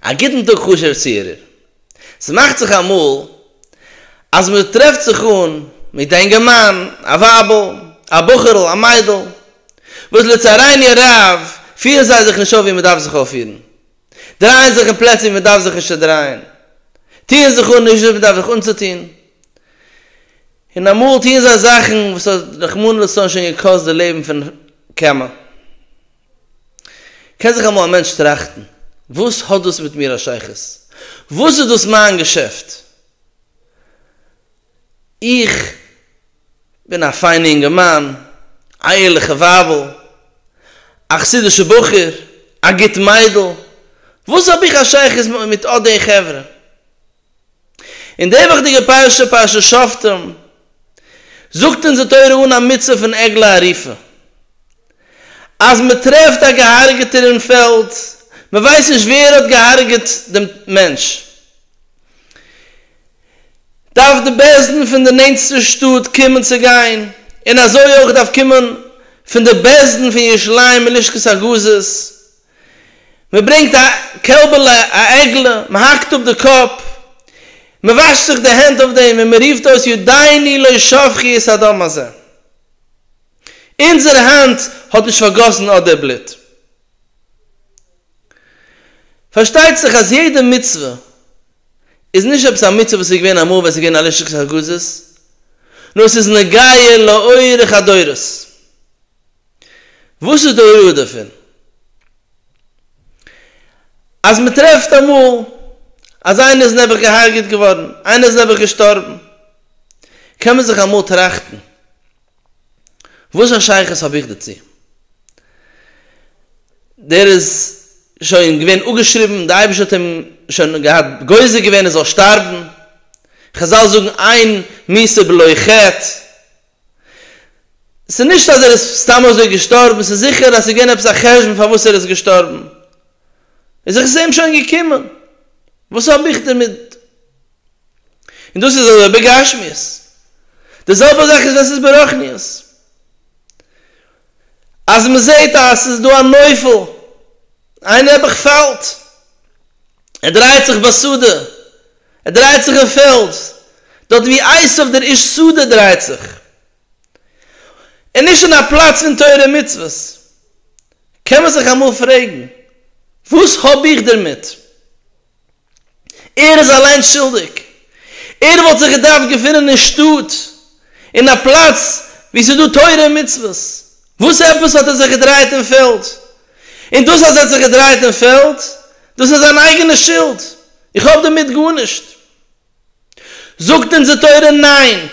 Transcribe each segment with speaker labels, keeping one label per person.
Speaker 1: א גוטן טאג חשוב'ער צוהערער. ס'מאכט זיך אמאל אז מ'טרעפט זיך אן מיט א אינגערמאן, א ווייבל, א בחור'ל, א מיידל, וואס לצערני הרב פירן זיי זיך נישט אויף ווי מ'דארף זיך אויפפירן, דרייען זיך אין פלעצער ווי מ'דארף זיך נישט צו דרייען, טוען זיך אן נישט ווי מ'דארף זיך אנצוטון, און אמאל טוען זיי זאכן וואס האט רחמנא לצלן שוין געקאסט די לעבן פון כמה. קען זיך אמאל א מענטש טראכטן, וואס האט דאס מיט מיר א שייכות? וואס איז דאס מיין געשעפט? איך בין א פיינע אינגערמאן, א ערליכע ווייבל, א חסידישע בחור, א גוט מיידל, וואס האב איך א שייכות מיט אט די חברה? אין די וואכדיגע פרשה, פרשת שופטים, זאגט אונז די תורה אן א מצוה פון עגלה ערופה. אז מען טרעפט א געהארגעטער אין פעלד, מען ווייסט נישט ווער האט געהארגעט דעם מענטש, דארף די בית דין פון די נענטסטע שטאט קומען צו גיין, און אזוי אויך דארף קומען פון די בית דין פון ירושלים מלשכת הגזית, מען ברענגט א קעלבעלע, א עגלה, מען האקט אפ די קאפ, מען וואשט זיך די הענט אויף דעם און מען רופט אויס ידיני לא שפכו את הדם הזה, אונזער האנט האט נישט פארגאסן אדער בלוט. פארשטייט זיך אז יעדע מצוה איז נישט עפעס א מצוה וואס איז געווען אמאל ווען עס איז געווען א לשכת הגזית, נאר עס איז נוגע לאורך הדורות. וואס איז די הוראה דערפון? אז מען טרעפט אמאל אז איינער איז נעבעך געהארגעט געווארן, איינער איז נעבעך געשטארבן, קען מען זיך אמאל טראכטן, וואס א שייכות האב איך דערצו? דער איז שוין געווען אפגעשריבן, דער אייבערשטער האט אים שוין געהאט גוזר געווען ער זאל שטארבן, חזל זאגן עיין מיסר בלא חטא, ס'איז נישט אז ער איז סתם אזוי געשטארבן, ס'איז זיכער אז ס'איז געווען עפעס א חשבון פארוואס ער איז געשטארבן. איז זיך עס אים שוין געקומען, וואס האב איך דערמיט? און דאס איז אזוי בגשמיות. די זעלבע זאך איז ווען ס'איז ברוחניות. אז מ'זעהט אז ס'איז דא א נופל, איין נעבעך פאלט, ער דרייט זיך ביי סעודה, ער דרייט זיך אין פעלז, דארט ווי עשיו דער איש שדה דרייט זיך, און נישט אין א פלאץ פון תורה ומצוות. קען מען זיך אמאל פרעגן, וואס האב איך דערמיט? ער איז אליין שולדיג. ער וואלט זיך געדארפט געפינען אין שטאט, אין א פלאץ וואו ס'איז דא תורה ומצוות. וואס עפעס האט ער זיך געדרייט אין פעלז? און דאס אז ער האט זיך געדרייט אין פעלד, דאס איז זיין אייגענע שולד, איך האב דערמיט גארנישט. זאגט אונז די תורה ניין.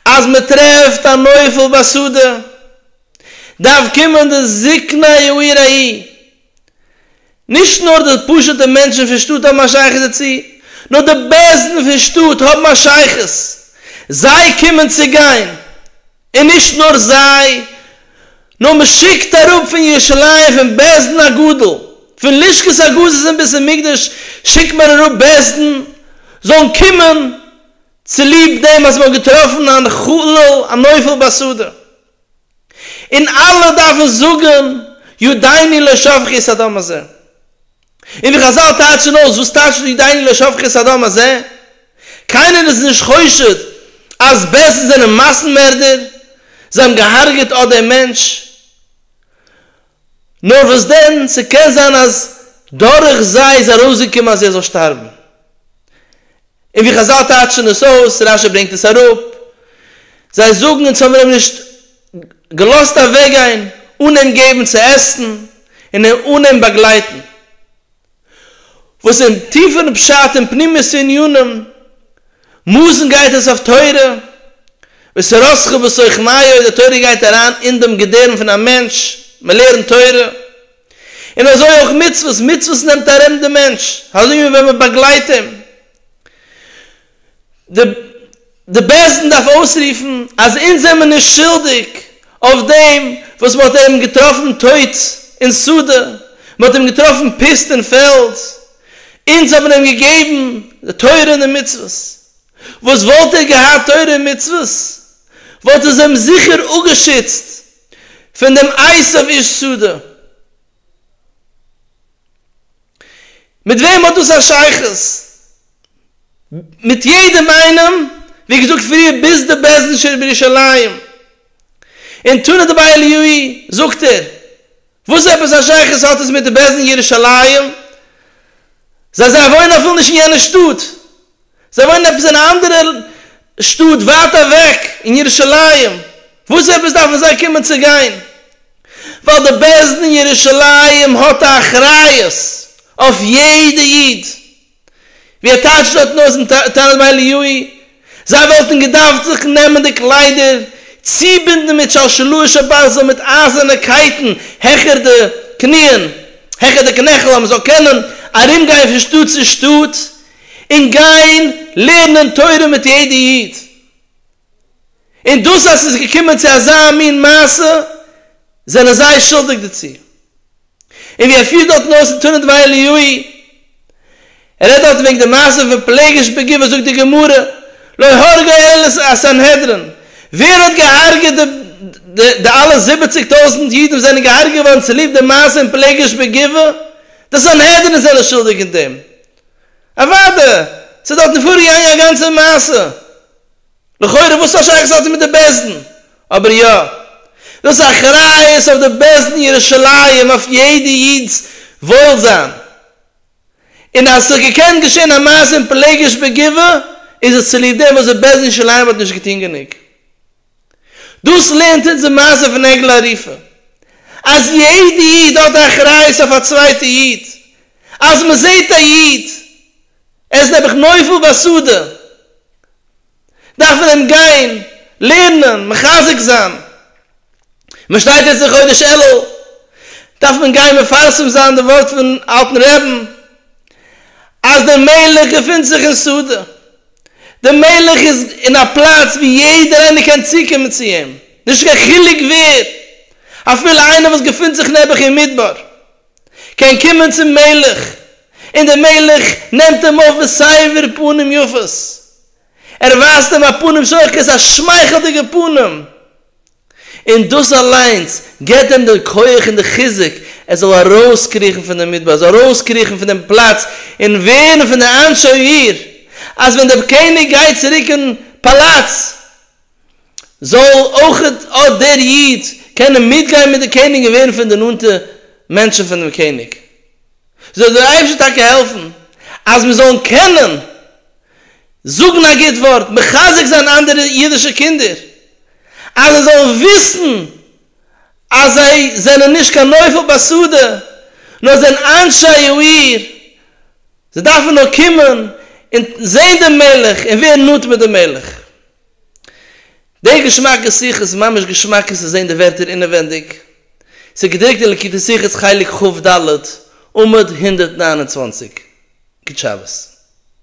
Speaker 1: אז מען טרעפט א נופל בשדה, דארף קומען די זקני העיר ההיא, נישט נאר די פשוט'ע מענטשן פון שטאט האבן א שייכות דערצו, נאר די בעלזן פון שטאט האבן א שייכות, זיי קומען צו גיין, און נישט נאר זיי, נאר מען שיקט אראפ פון ירושלים פון בעלזן א גדול, פון לשכת הגזית אין בית המקדש שיקט מען אראפ בעלזן זאלן קומען צוליב דעם אז מען האט געטראפן אן חלל, א נופל בסדר. און אלע דארפן זאגן יודעני לא שפכה את הדם הזה. און ווי חזל טייטשן אויס וואס טייטשט יודעני לא שפכה את הדם הזה? קיינער איז נישט חושד אז בעלזן זענען מאסן מערדער, זיי האבן געהארגעט אט דעם מענטש, נאר וואס דען, ס'קען זיין אז דורך זיי איז ארויסגעקומען אז ער זאל שטארבן. און ווי חזל טייטשן עס אויס, רשי ברענגט עס אראפ, זיי זאגן אונז האבן אים נישט געלאזט אוועקגיין אן אים געבן צו עסן און אן אים באגלייטן. וואס אין טיפערן פשט און פנימיות ענינים מוזן גייט עס אויף תורה וסרסך בסוכניו, די תורה גייט אריין אין דעם געדערם פון א מענטש, מען לערנט תורה, און אזוי אויך מצוות, מצוות נעמט ארום דעם מענטש, אזוי ווי ווען מען באגלייט אים. די בית דין דארף אויסרופן אז אונז זעמיר נישט שולדיג אויף דעם וואס מען האט איהם געטראפן טויט אין שדה, מען האט איהם געטראפן פיסט אין פעלד, אונז האבן איהם געגעבן די תורה און די מצוות, וואס וואלט ער געהאט תורה און מצוות וואלט עס איהם זיכער אפגעשיצט פון דעם עיסה אויף איש שדה. מיט וועם האט דאס א שייכות? מיט יעדעם איינעם, ווי געזאגט פריער ביז די בעזנישער בירושלים. און טענה'ט דערביי אליהו'י, זאגט ער, וואס עפעס א שייכות האט עס מיט די בעזניער ירושלים? זיי זיי וואוינען אפילו נישט אין יענע שטאט, זיי וואוינען עפעס אין א אנדערע שטאט ווייט אוועק אין ירושלים, וואס עפעס דארפן זיי קומען צו גיין? ווייל די בעש ט אין ירושלים האט א אחריות אויף יעדע איד, ווי ער טייטשט דארטן אויס אין תנא דבי אליהוי, זיי וואלטן געדארפט זיך נעמען די קליידער, צובינדן מיט שלשלאות שבזהב מיט אייזערנע קייטן העכער די קניען, העכער די קנעכל אז מען זאל קענען ארומגיין פון שטאט צו שטאט, און גיין לערנען תורה מיט יעדע איד, און דאס אז ס'איז געקומען צו אזא מין מעשה זענען זיי שולדיג דערצו, און ווי ער פירט דארטן אויס אין תנא דבי אליהואי, ער רעדט דארטן וועגן די מעשה פון פלגש בגבעה זאגט די גמרא לא הרגו אלא הסנהדרין, ווער האט געהארגעט די די אלע זיבעציג טויזענט אידן וואס זענען געהארגעט געווארן צוליב די מעשה אין פלגש בגבעה? די סנהדרין זענען שולדיג אין דעם, אוואדע, ס'איז דארטן פארגעגאנגען א גאנצע מעשה. לכאורה וואס פאר שייכות האט עס מיט די בעש ד'ן? אבער יא. דאס אחריות אויף די בעש ד'ן ירושלים אויף יעדע איד'ס וואוילזיין. און אז ס'האט געקענט געשען א מעשה אין פלגש בגבעה איז עס צוליב דעם וואס די בעש ד'ן ירושלים האט נישט געטון גענוג. דאס לערנט אונז די מעשה פון עגלה ערופה, אז יעדע איד האט א אחריות אויף א צווייטע איד, אז מען זעט א איד ער איז נעבעך נופל ביסודו, דארף מען אים גיין לערנען, מחזק זיין, מען שטייט יעצט אין חודש אלול, דארף מען גיין מפרסם זיין די ווארט פון אלטן רעבן, אז דער מלך געפינט זיך אין סעודה. דער מלך איז אין א פלאץ ווי יעדער איינער קען צוקומען צו אים, נישט קיין חילוק ווער, אפילו איינער וואס געפינט זיך נעבעך אין מדבר קען קומען צום מלך, און דער מלך נעמט אים אויף בסבר פנים יפות, ער ווייזט אים א פנים שוחקת, א שמייכלדיגע פנים. און דאס אליינס געבט דעם די כח און די חיזוק ער זאל ארויסקריכן פון דעם מדבר, ער זאל ארויסקריכן פון דעם פלאץ און ווערן פון די אנשי העיר, אז ווען דער קעניג גייט צוריק אין פאלאץ, זאל אויך אט דער איד קענען מיטגיין מיט דעם קעניג און ווערן פון די נאנטע מענטשן פון דעם קעניג. זאל דיר אייבערשטער טאקע העלפן אז מיר זאלן קענען זאגן א גוט ווארט, מחזק זיין אנדערע אידישע קינדער, אז זיי זאלן וויסן אז זיי זענען נישט קיין נופל בשדה, נאר זענען אנשי העיר, זיי דארפן נאר קומען און זען דעם מלך און ווערן נאנט מיט דעם מלך. די געשמאקע שיחה איז ממש געשמאק צו זען די ווערטער אינעווענדיג. ס'איז געדרוקט אין לקוטי שיחות חלק כב ד, עמוד הונדערט נײַן און צוואַנציק. גוט שבת.